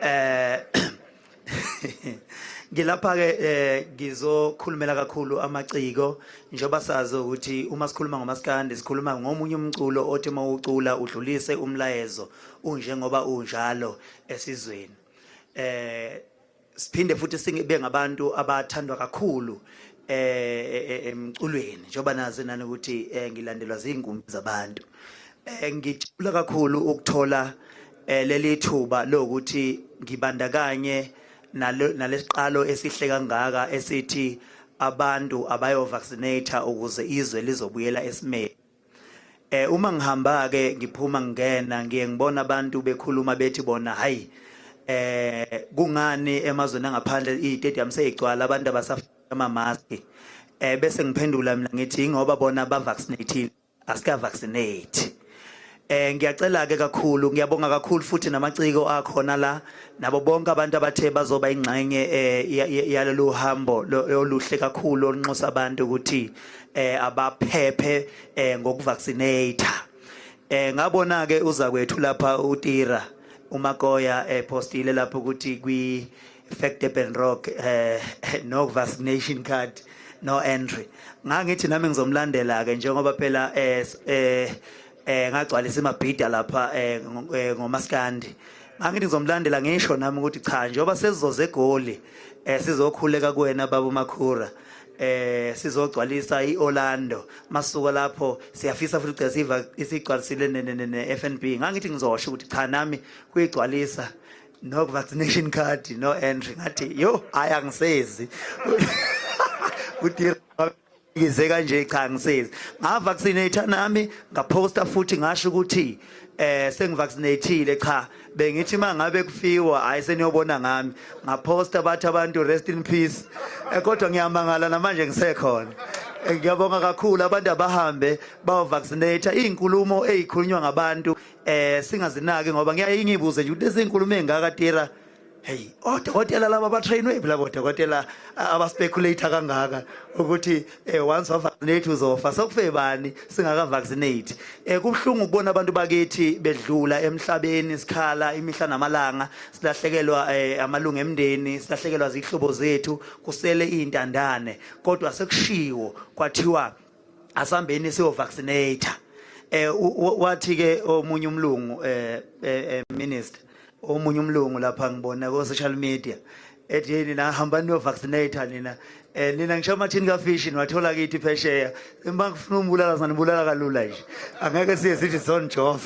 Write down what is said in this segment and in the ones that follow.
eh ngilapha ke eh, ngizokhulumela kakhulu amaciko njengoba sazi ukuthi uma sikhuluma ngomaskandi sikhuluma ngomunye umculo othi uma ucula udlulise umlayezo unjengoba unjalo esizweni eh siphinde futhi sibe ngabantu abathandwa kakhulu eh emculweni njengoba nazi nani ukuthi eh, ngilandelwa zingumbi zabantu eh, ngijula kakhulu ukuthola eh, leli thuba lokuthi ngibandakanye nalesiqalo esihle kangaka esithi abantu abayo vaccinate ukuze izwe lizobuyela esimeni Eh uma ngihamba ke ngiphuma ngingena ngiye ngibona abantu bekhuluma bethi bona hayi eh kungani emazweni angaphandle i-stadium seyigcwala abantu abasafika ama-mask eh bese ngiphendula mina ngithi ingoba bona bavaccinatile asikavaccinate eh ngiyacela ke kakhulu ngiyabonga kakhulu futhi namaciko akhona la nabo bonke abantu abathe bazoba ingxenye eh yalolu hambo oluhle kakhulu olunxusa abantu ukuthi eh abaphephe eh ngokuvaccinate eh ngabona ke uza kwethu lapha uTira uMakoya eh postile lapha ukuthi kwi fact Durban Rock eh no vaccination card no entry ngangithi nami ngizomlandela ke njengoba phela eh eh, eh ngagcwalisa imabhida lapha eh, eh ngomaskandi ngangithi ngizomlandela ngisho nami ukuthi cha njengoba sesizoze egoli eh sizokhuleka kuwena baba uMakhura eh sizogcwalisa iOrlando masuka lapho siyafisa futhi ugcesa iva isigcwalisile neFNB ngangithi ngizosho ukuthi cha nami kuyigcwalisa no vaccination card no entry ngathi yo hayi angisezi uthi ngize kanje cha ngisezi ngavaccinate nami ngaposta futhi ngasho ukuthi eh sengivaccinated cha bengithi mangabe kufiwa hayi seniyobona ngami ngaposta bathi abantu rest in peace eh, kodwa ngiyamangala namanje ngisekhona eh, ngiyabonga kakhulu abantu abahambe bawavaccinate izinkulumo ezikhulunywa ngabantu eh singazinaki ngoba ngiyayingibuze nje ukuthi izinkulumo ezingaka tira heyi odokotela laba batrainwe phi labo dokotela abaspeculator kangaka ukuthi um once wavaccinate uzofa sokufe bani singakavaccinate um eh, kubuhlungu ukubona abantu bakithi bedlula emhlabeni sikhala imihla namalanga silahlekelwa um amalungu emndeni silahlekelwa ziyihlobo zethu kusele iy'ntandane kodwa sekushiwo kwathiwa asambeni siyo vaccinator eh wathi ke omunye umlungu eh, eh, eh minister omunye umlungu lapha ngibona ko social media ethi yini na hamba niyo vaccinator nina eh nina ngisho amathini ka fish niwathola kithi phesheya uma ngifuna umbulala sanibulala kalula nje angeke siye sithi son job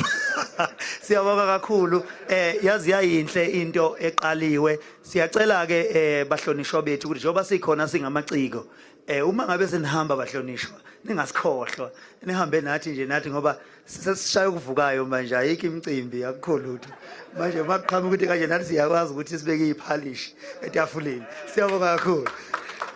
siyabonga kakhulu eh yazi yayinhle into eqaliwe siyacela ke eh bahlonishwa bethu ukuthi njengoba sikhona singamaciko Eh uma ngabe senihamba bahlonishwa ningasikhohlwa nihambe nathi nje nathi ngoba sesishaya ukuvukayo manje ayikho imicimbi akukho lutho manje uma kuqhamuka ukuthi kanje nathi siyakwazi ukuthi sibeke iphalishi etafuleni siyabonga kakhulu